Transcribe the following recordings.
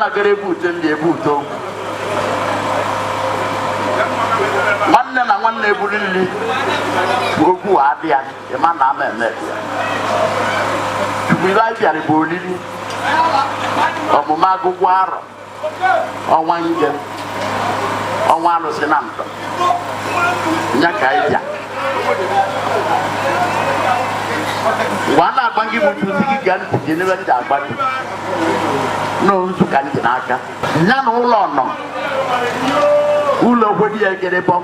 agara ebute ndị ebute nwanne na nwanne ebuli nri ọgwụ adị ya ịma na ama eme chukwu ive anyị bịara bụ olili ọmụma agụgụ arọ ọnwa nje ọnwa alụsị na ntọ ya ka anyị bịa mgbe a na-agwa gị bụ tuzi gị ga ntị gị n'ebe ndị agba gị n'ozu ka ntị n'aka ya na ụlọ nọ ụlọ okwedi ya egere bọm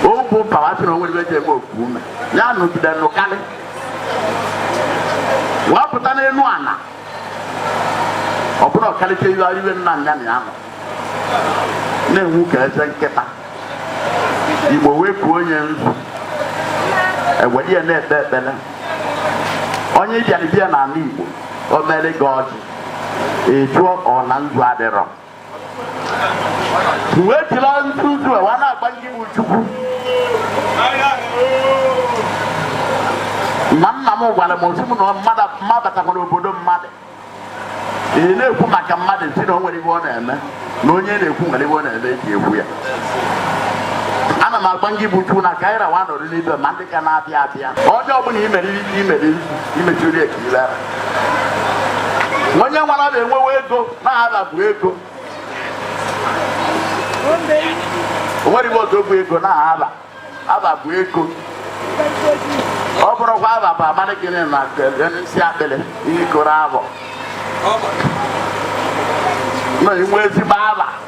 ogwu pawa sị na onwe ebe eji eme okwu ume ya nụgide nụkarị wee pụta n'enu ana ọ bụrụ ọkalite ive ive nna nya na ya nọ na-enwu ka eze nkịta igbo wee kwuo onye nzu ewere ya na-ekpe ekpere onye bịara abịa n'ala igbo o mere gị ọjị ị jụọ ọ na nzu adịrọ wee jiri nzu a wee na-agwa ngị bụ chukwu ma nna m gwara m osi m na mmadụ mabatakwara obodo mmadụ ị na-ekwu maka mmadụ si na o nwere ive ọ na-eme na onye na-ekwu nwere ive ọ na-eme eji ekwu ya ana m agwa ngị bụ chukwu na ka anyị rawa nọrọ n'ibe ma ndị ka na-abịa abịa onye ọbụla imeriri ike imeriri imechiri ekirila onye nwara na-enwewe ego na ava bụ ego onwere m otu bụ ego na ava ava bụ ego ọ bụrụkwa ava bụ amadị gịnị na isi akpịrị ihe ikoro abụ na inwe ezigbo ava